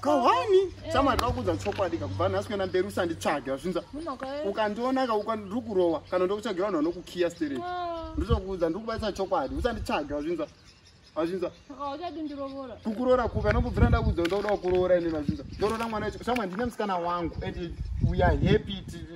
kahwani samari eh. vakuudza chokwadi ka kubva nhasi kuenda mberi usanditsvage vazvinza eh. ukandiona ka ukandiri kurova kana ndokutsvagira vanhu vanokukiya sterei ah. nditokuudza ndiri kubaisa chokwadi usanditsvage vazvinza vazvinza kukuroora kupi anokubvira ndakuudza ndokuda kukuroora ine vazvinza ndoroora mwana wacho samwe ndine musikana wangu and we are happy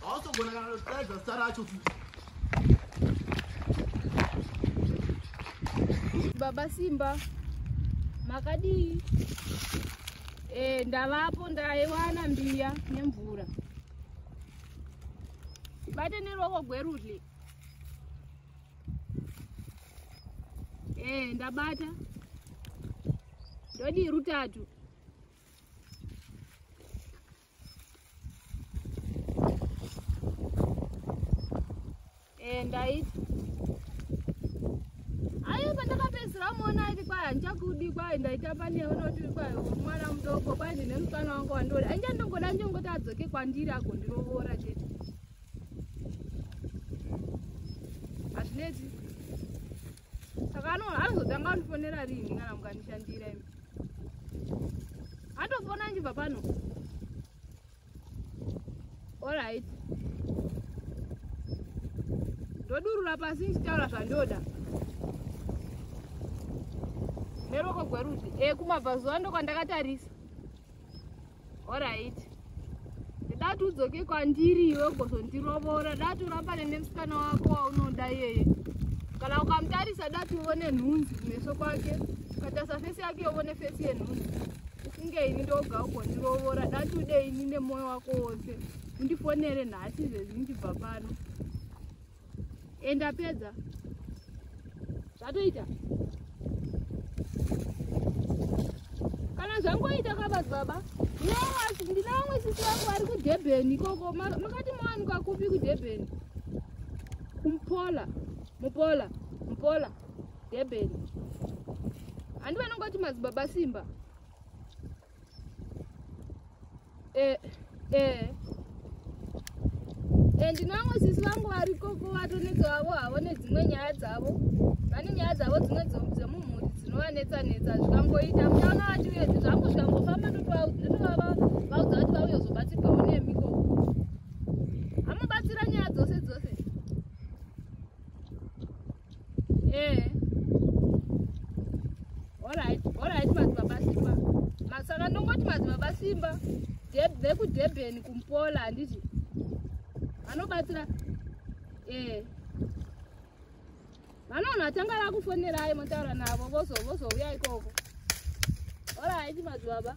Hausogona kana kutaridza zita racho futi. Baba Simba, makadii? E, ndavapo ndaiwana mbiya nemvura. Bate neruoko gwerudyi. E, ndabata. Ndodii rutatu. eh, ndaiti ayo pandakapedzisira muona aiti kwai handichakudi kwai ndaitamba newe noti kwai mwana mudoko kwai ndine mufana wangu wandori ainja ndongoda njongoti adzoke kwandiri agondirovora chete hazvineti saka anoona anozotanga andifonera rini kana mukandishandira imi andofona anjibva pano orit ndodurura pasi ndichitaura zvandoda neroko gwerudyi e eh, kumabvazuva ndokwandakatarisa orit dati udzoke kwandiri iwe ugozondirovora dati urambane nemusikana wako waunoda iyeye kana ukamutarisa dati uone nhunzi kumeso kwake ukatarisa fesi yake uone fesi yenhunzi ufunge ini ndoga ugondirovora dati ude ini nemoyo wako wose undifonere nhasi zvezvi ndibva pano and apedza zvatoita kana zvangoita kabas baba ndina vamwe sisi vangu vari kudurban ikoko makati mawanikwa kupi kudurban kumpola mupola mupola durban handi vanongoti madzibaba simba eh, eh. and eh, navo sisi vangu vari koko vatonetsa vavo havo nedzimwe nyaya dzavo vane nyaya dzavo dzimwe dzemumhuri dzinovanetsa netsa zvikangoita muchaona vati uye zvangu zvikangofamba ndotovavaudza kuti vauye kuzobatsirwawo nemi koko amubatsira nyaya dzose dzose eh alright alright madzibaba simba masaka ndongoti madzibaba simba vekudurban kumpola handiti vanobatsira ee eh. vanoona vatanga vakufonerai motaura navo vozouya ikoko alright madzibaba